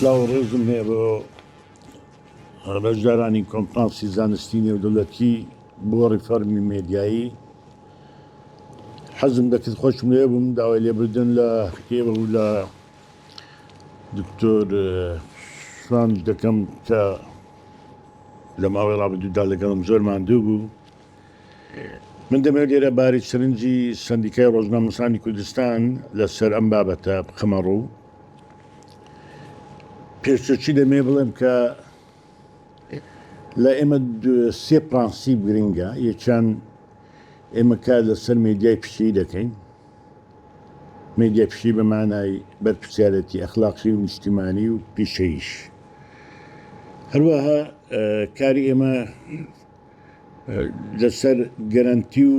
سلاو ڕێزم هەیە بۆ ڕەژدارانی کۆنفرانسی زانستی نێودەولەتی بۆ ڕیفەرمی مێدیایی حەزم دەکرد خۆشم لێ بووم داوای لێبدن لە کتێبە و لە دکتۆر سڵاوت دەکەم کە لە ماوەی ڕابدوودا لەگەڵم زۆر ماندوو بوو من دەمەوێت لێرە باری سرنجی سندیکای ڕۆژنامەسانی کوردستان لەسەر ئەم بابەتە بخەمە ڕوو پێشچی دەمێ بڵێم کە لە ئێمە سێ پرانسی گرنگە یەکیان ئێمە کار لەسەر مێدیای پشتی دەکەین میدیا پشتی بە مانای بەرپرسیارێتی ئەخلاقی و نیشتیمانی و پیشەییش هەروەها کاری ئێمە لەسەر گەرەنتی و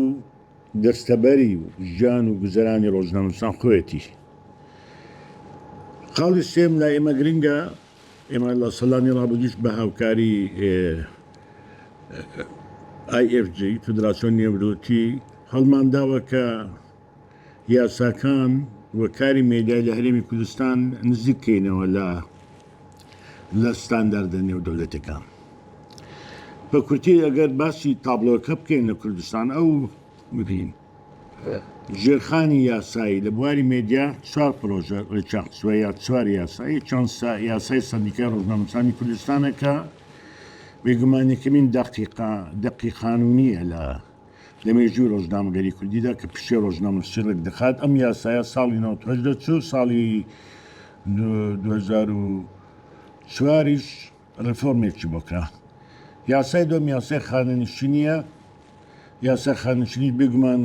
دەستەبەری و ژیان و گوزەرانی ڕۆژنامەنووسان خۆیەتی. خاڵی سێم لای ئێمە گرنگە ئێمە لە سەدانی ڕابردووش بە هاوکاری IFJ، فدراسیۆن نێورۆتی، هەڵمانداوە کە یاساکان و کاری مێدیای لە هەرێمی کوردستان نزیک بکەینەوە لە لە ستانداردە نێودەولەتیەکان. بە کورتی ئەگەر باسی تابلۆکە بکەین لە کوردستان ئەو ببین. ژێرخانی یاسایی، لە بواری مێدیا چوار پرۆژە ڕێکیانخستووە یا چوار یاسا، یەکیان یاسای سەندیکای ڕۆژنامەنووسانی کوردستانە کە بێگومان یەکەمین دەقی قانوونییە لە مێژووی ڕۆژنامەگەریی کوردیدا کە پیشەی ڕۆژنامەنووسی ڕێکدەخات، ئەم یاسایە ساڵی نەوەد و هەشت دەرچوو، ساڵی دوو هەزار و چواریش ڕێفۆرمێکی بۆ کا. یاسای دووەم یاسای خانەنشینییە، یاسای خانەنشینیش بێگومان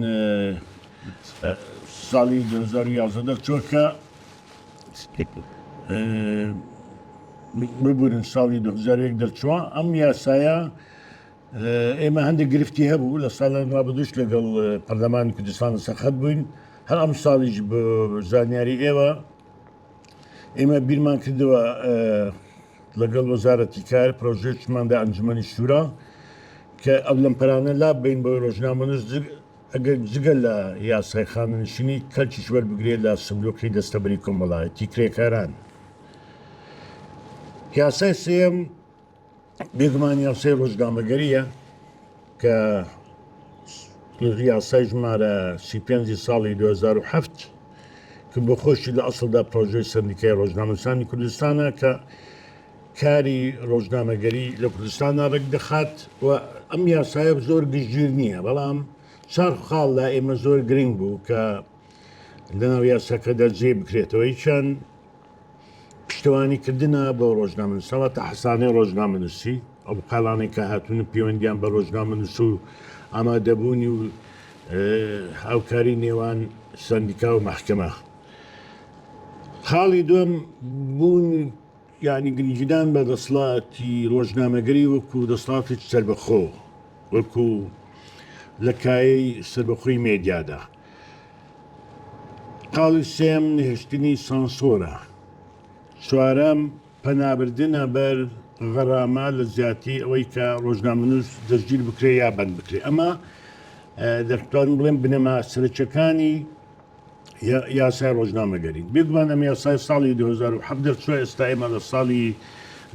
ساڵی دوو هەزار و یازدە دەرچووە کە ببورن ساڵی دوو هەزار و یەک دەرچووە. ئەم یاسایە ئێمە هەندێک گرفتی هەبوو لە ساڵان ڕابردووش لەگەڵ پەرلەمانی کوردستان لەسەر خەت بووین، هەر ئەم ساڵیش بە زانیاری ئێوە ئێمە بیرمان کردەوە لەگەڵ وەزارەتی کار پرۆژێکماندا ئەنجومەنی شورا کە ئەو لەمپەرانە لا بین بۆ ڕۆژنامەنووس ئەگەر جگە لە یاسای خانەنشینی کەلکیش وەربگرێت لە سندوقی دەستەبری کۆمەڵایەتی کرێکاران یاسای سێم بێگومان یاسای ڕۆژنامەگەریە کە یاسای ژمارە سی پێنجی ساڵی 2007 کە بۆ خۆشی لە ئەسڵدا پرۆژەی سندیکای ڕۆژنامەسانی کوردستانە کە کاری ڕۆژنامەگەری لە کوردستاندا ڕێک دەخات و ئەم یاسایە زۆر گشتگیر نییە بەڵام چار خاڵ لە ئێمە زۆر گرنگ بوو کە لەناو یاساکەدا جێ بکرێتەوەی چەند پشتیوانی کردنە بۆ ڕۆژنامەنووس ئەوە تا حسانەی ڕۆژنامەنووسی ئەو بقالانەی کە هاتوون و پەیوەندیان بە ڕۆژنامەنووس و ئامادەبوونی و هاوکاری نێوان سندیکا و محکمە خاڵی دوم بوون یعنی گرنگیدان بە دەسڵاتی ڕۆژنامەگەری وەکو دەسڵاتی سربەخۆ وەکو لە کایەی سربەخۆی مێدیادا خاڵی سێم نەهێشتنی سانسۆرە. چوارەم پەنابردنە بەر غەرامە لە جیاتی ئەوەی کە ڕۆژنامەنووس دەستگیر بکرێ یا بەند بکرێ ئەمە دەتوانم بڵێم بنەما سەرچەکانی یاسای ڕۆژنامەگەری بێگومان ئەم یاسای ساڵی 2007 دەرچوە ئێستا ئێمە لە ساڵی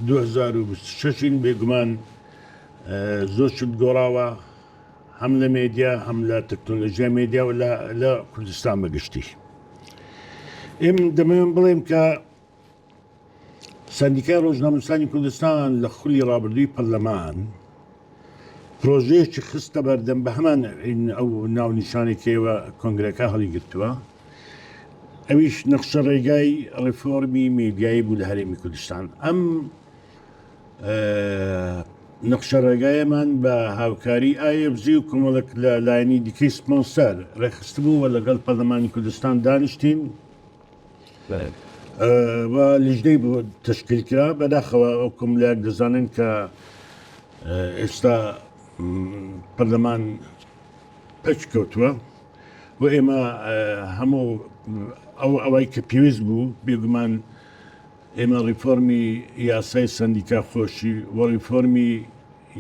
2026 بێگومان زۆر شت گۆڕاوە هەم لە مێدیا هەم لە تەکنۆلۆژیا مێدیا و لە کوردستان بەگشتی ئێم دەمەوێن بڵێم کە سندیکای ڕۆژنامەسانی کوردستان لە خولی ڕابردووی پەرلەمان پرۆژەیەکی خستە بەردەم بە هەمان ئەو ناو نیشانێکەوە کۆنگرەکە هەڵیگرتووە ئەویش نەخشە ڕێگای ڕفۆرمی میدیایی بوو لە هەرێمی کوردستان ئەم نەخشە ڕێگایەمان بە هاوکاری IFG و کۆمەڵک لە لایەنی دیکەی سپۆنسەر ڕێکخستبوو و لەگەڵ پەرلەمانی کوردستان دانیشتین و لیژدەی بۆ تشکیل کرا بەداخەوە ئەو کۆملیاک دەزانن کە ئێستا پەرلەمان پچ کەوتووە و ئێمە هەموو ئەو ئەوەی کە پێویست بوو بێگومان ئێمە ڕیفۆرمی یاسای سەندیکا خۆشی و ڕیفۆرمی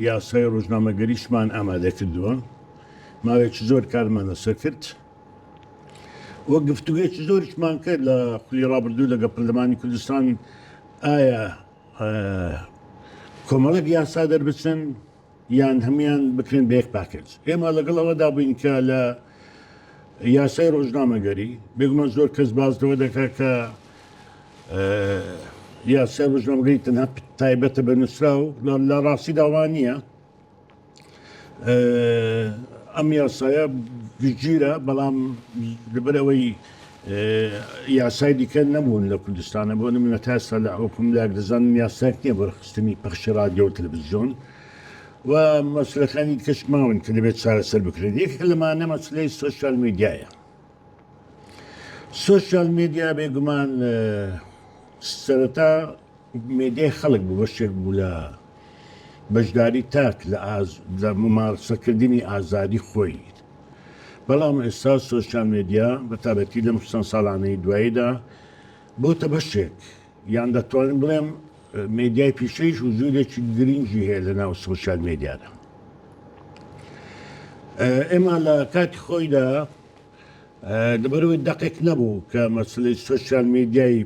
یاسای ڕۆژنامەگەریشمان ئامادە کردووە. ماوەیەکی زۆر کارمان لەسەر کرد و گفتوگۆیەکی زۆریشمان کرد لە خولی ڕابردوو لەگەڵ پەرلەمانی کوردستان ئایا کۆمەڵێک یاسا دەربچن، یان هەموویان بکرێن بە یەک پاکێج. ئێمە لەگەڵ ئەوەدا بووین کە لە یاسای ڕۆژنامەگەری، بێگومان زۆر کەس باس لەوە دەکات کە یاسای ڕۆژنامەگەری تەنها تایبەتە بە نووسراو لە ڕاستی داوا نییە. ئەم یاسایە گشتگیرە بەڵام لەبەرەوەی یاسای دیکە نەبوون لە کوردستانە بۆ نمونە تا ئێستا لە حکوم لا دەزانم یاساک نییە بەرخستنی پەخشی رادیۆ تەلەڤزیۆن و مەسلەکانی کەش ماون کە دەبێت چارەسەر بکرێت یەک لەمانە مەسلەی سوسیال میدیایە سوسیال میدیا بێگومان سەرەتا مێدیای خەڵک بوو بەشێک بوو لە بەشداری تاک لە ممارسەکردنی ئازادی خۆی بەڵام ئێستا سۆشیال مێدیا بە تایبەتی لەم چەند ساڵانەی دواییدا بۆتە بەشێک یان دەتوانم بڵێم مێدیای پیشەیش و جوورێکی گرنگی هەیە لە ناو سۆشیال مێدیادا ئێمە لە کاتی خۆیدا لەبەرەوەی دەقێک نەبوو کە مەسلەی سۆشیال مێدیای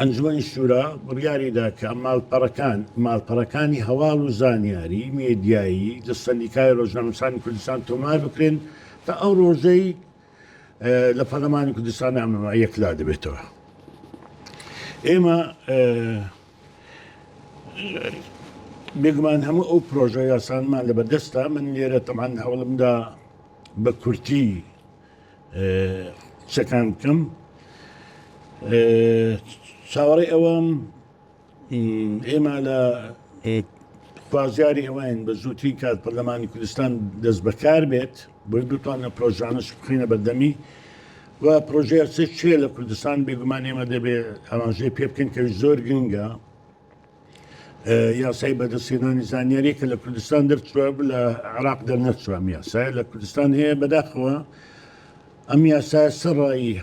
ئەنجومەنی شورا بڕیاریدا کە ماڵپەڕەکان ماڵپەڕەکانی هەواڵ و زانیاری مێدیایی لە سەندیکای ڕۆژنامەسانی کوردستان تۆمار بکرێن تا ئەو ڕۆژەی لە پەرلەمانی کوردستان ئەمەما یەکلا دەبێتەوە ئێمە بێگومان هەموو ئەو پرۆژە یاسانمان لە بەردەستە من لێرە تەمان هەوڵمدا بە کورتی قسەکان بکەم چاوەڕێ ئەوەم ئێمە لە خوازیاری ئەوەین بە زووتری کات پەرلەمانی کوردستان دەست بەکار بێت بۆی بتوانە پرۆژانش بخینە بەردەمی و پرۆژەیە چێ لە کوردستان بێگومان ئێمە دەبێت ئاماژەی پێ بکەین کە زۆر گرنگە یاسای بەدەستهێنانی زانیاری کە لە کوردستان دەرچوە لە عراق دەرنەچوام یاسای لە کوردستان هەیە بەداخەوە ئەم یاسای سەڕایی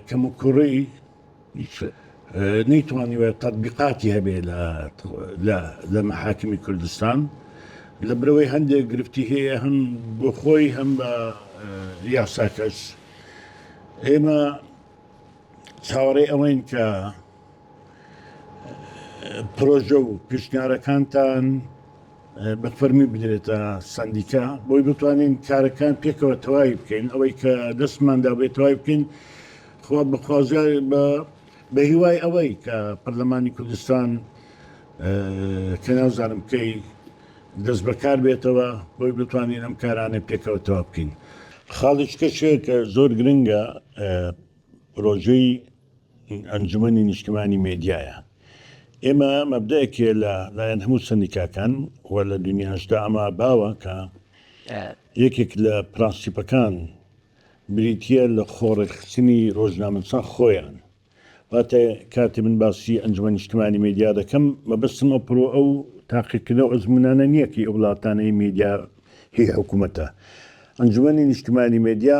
کەم و کوڕی نەیتوانی وە تەبیقاتی هەبێ لە محاکمی کوردستان لە برەوەی هەندێک گرفتی هەیە هەم بۆ خۆی هەم بە یاساکەش ئێمە چاوەڕێ ئەوەین کە پرۆژە و پیشنیارەکانتان بە فەرمی بدرێتە سندیکا بۆی بتوانین کارەکان پێکەوە تەواوی بکەین ئەوەی کە دەستماندا بێت تەواوی بکەین خۆ بەخوازیار بە بە هیوای ئەوەی کە پەرلەمانی کوردستان کە نازانم بکەی دەست بەکار بێتەوە بۆی بتوانین ئەم کارانە پێکەوە تەواو بکەین خاڵیشکە شێکە زۆر گرنگە پرۆژەی ئەنجومەنی نیشتمانی مێدیایە. ئێمە مەبدایەکێ لە لایەن هەموو سەندیکاکان و لە دنیاشدا ئەمە باوە کە یەکێک لە پرەنسیپەکان بریتییە لە خۆڕێکخستنی ڕۆژنامەنووسان خۆیان. واتە کاتێ من باسی ئەنجومەنی نیشتمانی مێدیا دەکەم، مەبەستم ئەو پرۆ ئەو تاقیکردنە و ئەزموونانە نییە کە ئەو وڵاتانەی مێدیا هی حکوومەتە. ئەنجومەنی نیشتمانی مێدیا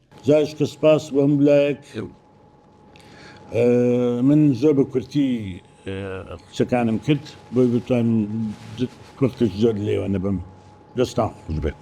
جاش کە سپاس بۆ هەموو لایەک من زۆر بە کورتی قسەکانم کرد بۆی بتوان وەختش زۆر لێوە نەبم دەستان خوش بێت.